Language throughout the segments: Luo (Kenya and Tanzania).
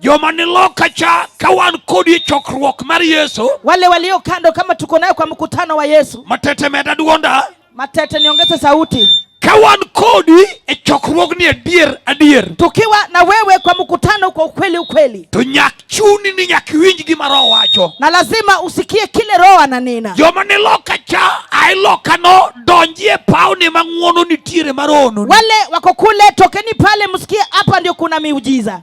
joma ni loka cha ka wan kodi e chokruok mar Yesu, wale walio kando kama tuko nayo kwa mkutano wa Yesu. Matete meda duonda, matete niongeze sauti. Ka wan kodi e chokruogni adier adier, tukiwa na wewe kwa mkutano kwa ukweli ukweli, to nyak chuni ni nyak winj gima Roho wacho, na lazima usikie kile Roho ananena. Joma ni loka cha ai loka no donjie pauni mang'uono nitiere marono, wale wako kule tokeni pale, msikie hapa ndio kuna miujiza.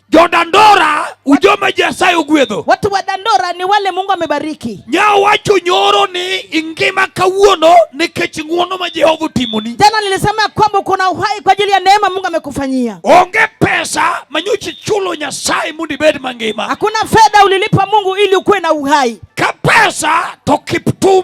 Jodandora ujoma Nyasaye ogwedho. Watu wa Dandora ni wale Mungu amebariki. Nyawacho nyoro ni ingima kawuono nikech ng'wono ma Jehova otimoni. Jana nilisema kwamba kuna uhai kwa ajili ya neema Mungu amekufanyia. Onge pesa manyochi chulo Nyasaye mondo ibed mangima. Hakuna fedha ulilipa Mungu ili ukuwe na uhai. Ka pesa to Kiptum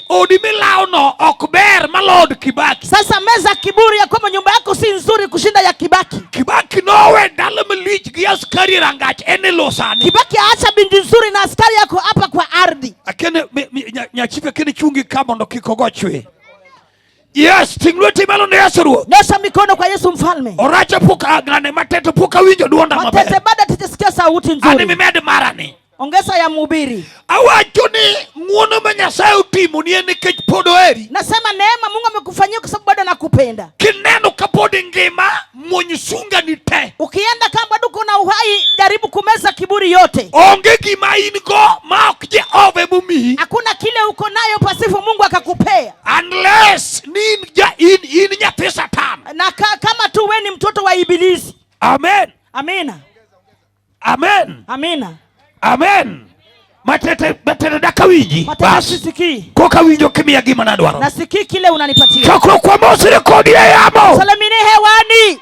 Odi milawo no ok ber malod Kibaki. Sasa meza kiburi ya kwamba nyumba yako si nzuri kushinda ya Kibaki. Kibaki nowe dala malich gi askari rangach en e lo sani. Kibaki aacha binti nzuri na askari yako hapa kwa ardhi. Akene nyachife akene chungi ka mondo kik ogo chwe. Yes, ting lweti malo ne Yesu Ruoth. Nyosha mikono kwa Yesu Mfalme. Orache puka ngane matete puka winjo duonda maber. Matete bada tijisikia sauti nzuri. Ani mimed marani. Ongeza ya mhubiri. Awacho ni ng'wono ma Nyasaye otimo ni en nikech pod oheri. Nasema neema Mungu amekufanyia kwa sababu bado anakupenda. Kineno ka pod ingima muony sunga ni te. Ukienda kama bado kuna uhai, jaribu kumeza kiburi yote. Onge gima in go ma ok Jehova emomiyi. Hakuna kile uko nayo pasifu Mungu akakupea. Unless ni in, ja, in, in nyathi Satan. Na ka, kama tu wewe ni mtoto wa Ibilisi. Amen. Amina. Amen. Amina. Amen. Matete matete daka winji. Matete sisiki. Koka winjo kimia gima nadwaro. Nasikii kile unanipatia. Chakro kwa mosi rekodi ya yamo. Salamine hewani.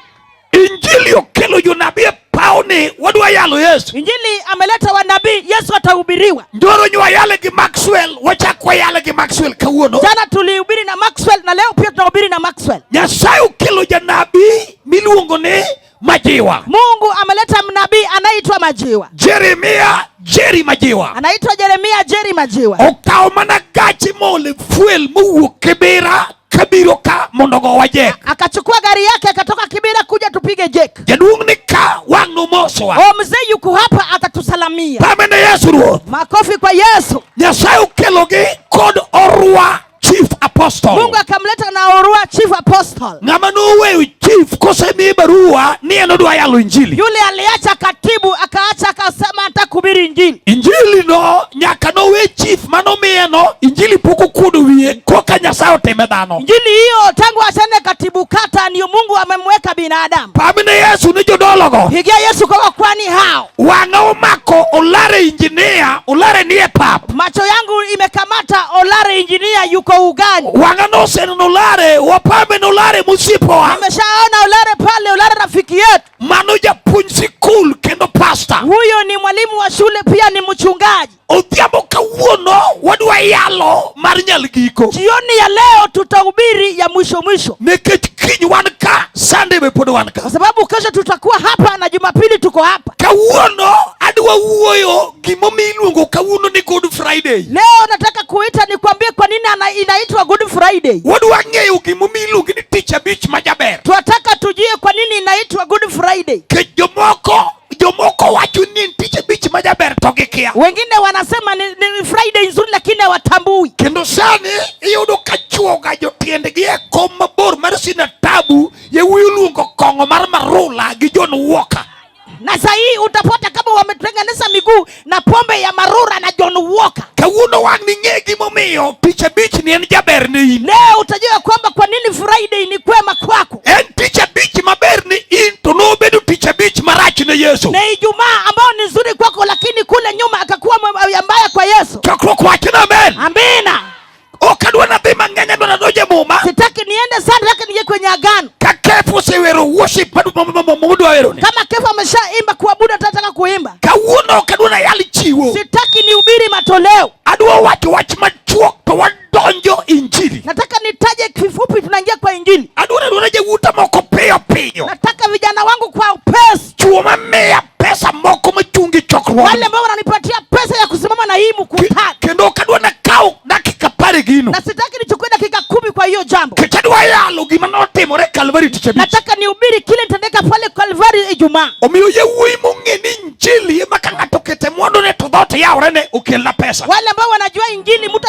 Injili okelo jonabi e pawo ni wadwa yalo Yesu. Injili ameleta wanabii, Yesu atahubiriwa. Ndoro nywa yale gi Maxwell, wachakwa yale gi Maxwell kawuono. Jana tulihubiri na Maxwell na leo pia tunahubiri na Maxwell. Nyasaye okelo janabi miluongo ni Majiwa. Mungu ameleta mnabii anaitwa Majiwa. Jeremia Jerry Majiwa. Anaitwa Jeremia Jerry Majiwa. Okawo mana gachi mole fuel mowuok Kibera kabiro ka mondo gowa jek. Akachukua gari yake akatoka Kibera kuja tupige jek. Jaduong' ni ka wang' nomosowa. O mzee yuko hapa atatusalamia. Pamene Yesu Ruoth. Makofi kwa Yesu. Nyasaye okelogi kod orwa chief apostle. Mungu akamleta na Orua chief apostle. Ng'ama noweyo chief kosemiye barua ni en odwa yalo injili. Yule aliacha katibu akaacha akasema hata kuhubiri injili. Injili no nyaka nowe chief manomiye no injili pok okuodo wiye koka Nyasaye otime dhano. Injili hiyo tangu achane katibu kata ndio Mungu amemweka binadamu. Pamine Yesu ni jodologo. Pigia Yesu kwa kwani hao. Wang'a omako Olare injinia, Olare nie pap. Macho yangu imekamata Olare injinia yuko ugani. Wang'a noseneno Olare, wapambe na Olare msipoa. Nimeshaona Olare pale, Olare rafiki yetu. Mano japuonj sikul kendo pasta. Huyo ni mwalimu wa shule pia ni mchungaji. Odhiambo kawuono wadwa yalo mar nyal giko. Jioni ya leo tutahubiri ya mwisho mwisho. Nikech kiny wan ka, Sunday be pod wan ka. Kwa sababu kesho tutakuwa hapa na Jumapili tuko hapa. Kawuono adwa wuoyo gimomiyo iluongo kawuono ni Good Friday. Leo nataka kuita nikwambie kwa nini ana- inaitwa Good Friday. Wadwa ng'eyo gimomiyo iluongo ni tich abich ma jaber. Tunataka tujue kwa nini inaitwa Good Friday. Nikech jomoko Jomoko wacho ni tich abich ma jaber to gikia. Wengine wanasema ni, ni Friday nzuri lakini hawatambui. Kendo sani iyudo ka chuoga jotiendgi e kom mabor mar sina tabu yewuyi luongo kong'o mar marula gi John Walker. Na sahii utapata kama wametengeneza miguu na pombe ya marura na John Walker. Kawuono wang' ning'e gimomiyo tich abich ni en jaber ne in. Leo utajua kwamba kwa nini Friday ni kwema kwako. En tich abich maber ni in to nobedo tich abich marach ne Yesu. Na Ijumaa ambayo ni nzuri kwako, lakini kule nyuma akakuwa mbaya kwa Yesu. Chokruok wachna amen. Amina. Ok adwa nadhi mang'eny adwa nadonj e muma. Sitaki niende sana nataka nije kwenye agano. Ka kefu osewero worship mudwa wero ni. Kama kefu ameshaimba kuabudu atataka kuimba. Kawuono ok adwa nayal chiwo. Sitaki nihubiri matoleo. Adwa wacho wach machuok to wadonjo injili. Nataka nitaje kifupi tunaingia kwa injili. Adwa nadwa na jawuta moko piyo piyo. Nataka vijana wangu kwa upesi. Chuo mamiya pesa moko machung' gi chokruok. Wale ambao wananipatia pesa ya kusimama na hii mkutano. Kendo ok adwa nakaw dakika apar e gino. Na sitaki nichukue dakika kumi kwa hiyo jambo. Kech adwa yalo gima notimore Kalvari tich abich. Nataka nihubiri kile nitendeka pale Kalvari Ijumaa. Omiyo yawuoyi mong'e ni injili ema ka ng'ato okete mwandone to dhoot yaworene okelna pesa. Wale ambao wanajua injili mtu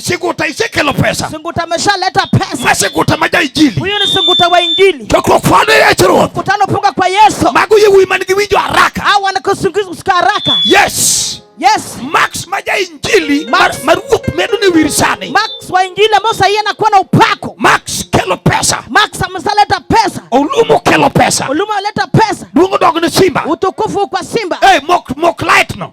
Siguta isekelo pesa. Siguta ameshaleta pesa. Masiguta maja injili. Huyu ni siguta wa injili. Chokruok fwano Yesu Ruoth. Mkutano punga kwa Yesu. Mago yewuoyi man gi winjo haraka. Hao wanakusikia haraka. Yes. Yes. Max maja injili mar ruoth medo ni wir sani. Max wa injili ambao sasa yeye anakuwa na upako. Max kelo pesa. Max ameshaleta pesa. Olumo kelo pesa. Olumo aleta pesa. Duongo dog ni simba. Utukufu kwa simba. Eh, hey, mok mok light no.